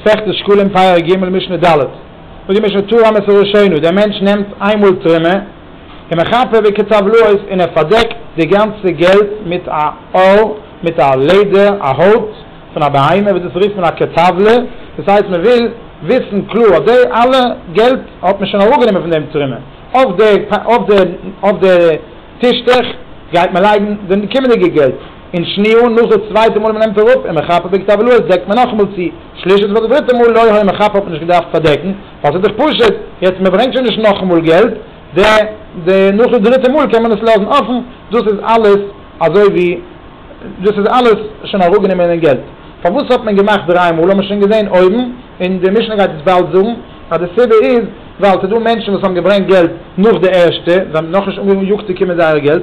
מסכת שקלים פרק ג' משנה ד', זאגט די משנה תורה אמר סרשענו, דער מענטש נעמט איינמאל תרומה און מכפר וכתבלעות און ער פארדעקט די גאנצע געלט מיט א עול, מיט א לעדער, א הויט פון א בהמה, וואס דאס רופט מען א כתבלה, דאס הייסט מען וויל וויסן קלאר אז די אלע געלט האט מען שוין אראפגענומען פון דעם תרומה, אויף די טישטעך גייט מען לייגן די קומענדיגע געלט. און שניהו, נאך די צווייטע מאל ווען מען נעמט אראפ און מען כאפט די כתב לועז דעקט מען נאכאמאל צו, שלישית פאר די דריטע מאל לא היה מכפר האט מען נישט געדארפט פארדעקן ווייל ס'איז דאך פשוט, יעצט מען ברענגט שוין נישט נאכאמאל געלט, די די נאך די דריטע מאל קען מען עס לאזן אפן, דאס איז אלעס אזוי ווי דאס איז אלעס שוין אראפגענומען אין געלט, פארוואס האט מען געמאכט דריי מאל האט מען שוין געזען אויבן, און די משנה גייט עס באלד זאגן אז די סיבה איז ווייל ס'דא מענטשן וואס האבן געברענגט געלט נאך די ערשטע, זיי האבן נאכנישט אנגעיאגט צו קומען זייער געלט,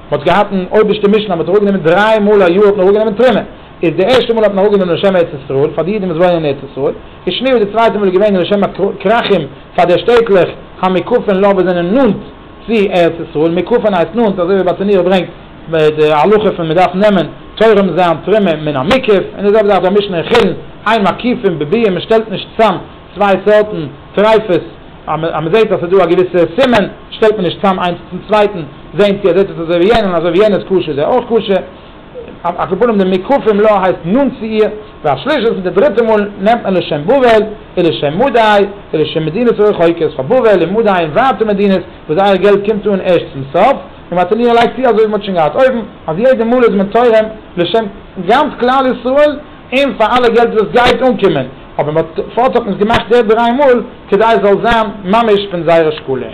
מען האט געהאט אן אויבערשטע משנה, מען האט אראפגענומען דריי מאל א יאר האט מען אראפגענומען תרומה, איז די ערשטע מאל האט מען אראפגענומען לשם ארץ ישראל פאר די אידן וואס וואוינען אין ארץ ישראל, איז שנירל די צווייטע מאל איז געווען לשם הכרכים פאר די שטעטלעך המקופין לו וואס זענען נאנט צו ארץ ישראל, מקופין הייסט נאנט, אזוי ווי ביי צניעות ברענגט די הלכה פון מען דארף נעמען תורם זיין תרומה מן המקוה, און די זעלבע זאך דא אין משנה אין חולין, איין מקיפין בביאה מען שטעלט נישט צאם צוויי סארטן טרייפות, אז מען אז מען זעט אז ס'איז דא א געוויסע סימן, שטעלט מען נישט צאם איינס צום צווייטן, זעהן צו ער זעט עס אזוי ווי יענעם, אזוי ווי יענער איז כשר איז ער אויך כשר, על כל פנים די מוקפים לה הייסט נאנט צו איר, והשלישית מיט די דריטע מאל נעמט מען לשם בבל, און לשם מדי, און לשם מדינות רחוקות, פאר בבל און מדי און ווייטע מדינות, וואס זייער געלט קומט אן ערשט צום סוף, און מען האט אין איר לייגט צו אזוי ווי מען האט שוין געהאט אויבן, אז יעדע מאל איז מען תורם לשם גאנץ כלל ישראל, און פאר אלע געלט וואס גייט אנקומען, אבער מ'האט פארט האט מען עס געמאכט יעדע דריי מאל כדי עס זאל זיין ממש פון זייער אשכול און.